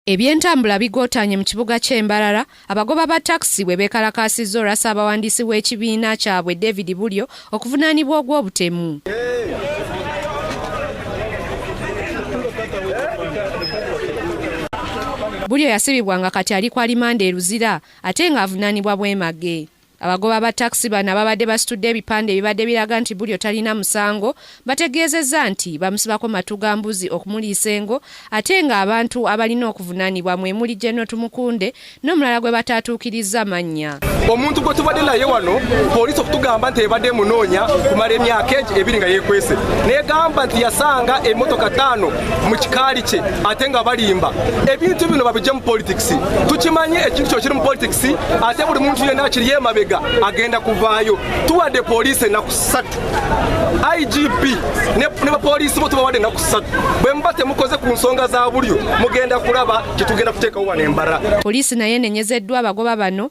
Ebyentambula bigootaanye mu kibuga ky'e Mbarara, abagoba ba takisi bwe beekalakaasizza olwa ssaabawandiisi w'ekibiina kyabwe David Bulyo okuvunaanibwa ogw'obutemu. Bulyo yasibibwa nga kati ali ku alimanda e Luzira ate ng'avunaanibwa bwemage. Abagoba ba takisi bano ababadde basitudde ebipande ebibadde biraga nti Bulyo talina musango bategeezezza nti bamusibako matu ga mbuzi okumuliisa engo ate ng'abantu abalina okuvunaanibwa mwe muli General Tumukunde n'omulala gwe bataatuukirizza mannya. omuntu gwe tubadde naye wano poliisi okutugamba nti ebadde emunoonya kumala emyaka ebiri nga yeekwese n'egamba nti yasanga emmotoka ttaano mu kikaali kye ate nga balimba ebintu bino babijje mu politics tukimanyi ekintu kyo kiri mu politics ate buli muntu yenna akiri emabega agenda kuvaayo tuwadde poliisi ennaku ssatu igp ne bapoliisi bo tubawadde ennaku ssatu bwe muba temukoze ku nsonga za bulyo mugenda kulaba kyetugenda kuteekawo wano embara poliisi naye enenyezeddwa abagoba bano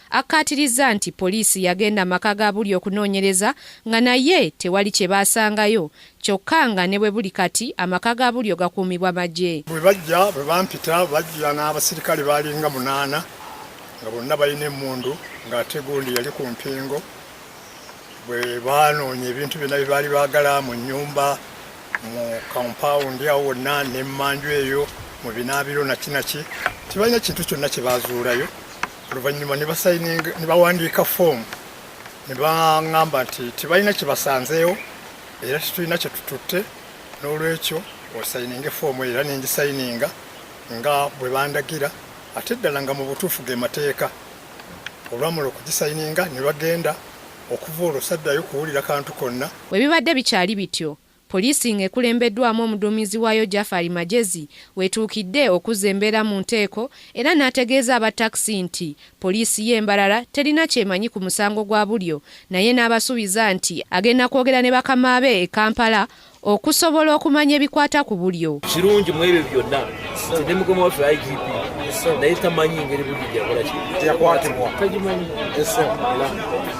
Akkaatirizza nti poliisi yagenda maka ga Buli okunoonyereza nga naye tewali kye baasangayo kyokka nga ne bwe buli kati amaka ga Bulyo gakuumibwa magye. Bwe bajja bwe bampita bajja n'abasirikale baalinga munaana nga bonna balina emmundu ng'ate gundi yali ku mpingo bwe baanoonya ebintu byonna bye baali baagala mu nnyumba mu kampawundi awo wonna n'emmanju eyo mu binaabiro nakinaki tebalina kintu kyonna kye baazuulayo oluvannyuma ne basayininga ne bawandiika foomu ne baŋŋamba nti tebalina kye basanzeewo era tetulina kye tututte n'olwekyo osayininge foomu era ne ngisayininga nga bwe bandagira ate ddala nga mu butuufu ge mateeka olwamala okugisayininga ne bagenda okuva olwo saddayo kuwulira kantu konna. Bwe bibadde bikyali bityo, Poliisi nga ekulembeddwamu omuduumizi waayo Jafari Magyezi wetuukidde okuzza embeera mu nteeko era n'ategeeza aba taxi nti Poliisi ye Mbarara terina kyemanyi ku musango gwa Bulyo naye n'abasubiza nti agenda kwogera ne bakama be e Kampala okusobola okumanya ebikwata ku Bulyo. Kirungi mu ebyo byonna nti ne mukama waffe IGP naye tamanyi ngeri Bulyo gyakola kino. Teyakwatibwa. Tagimanyi.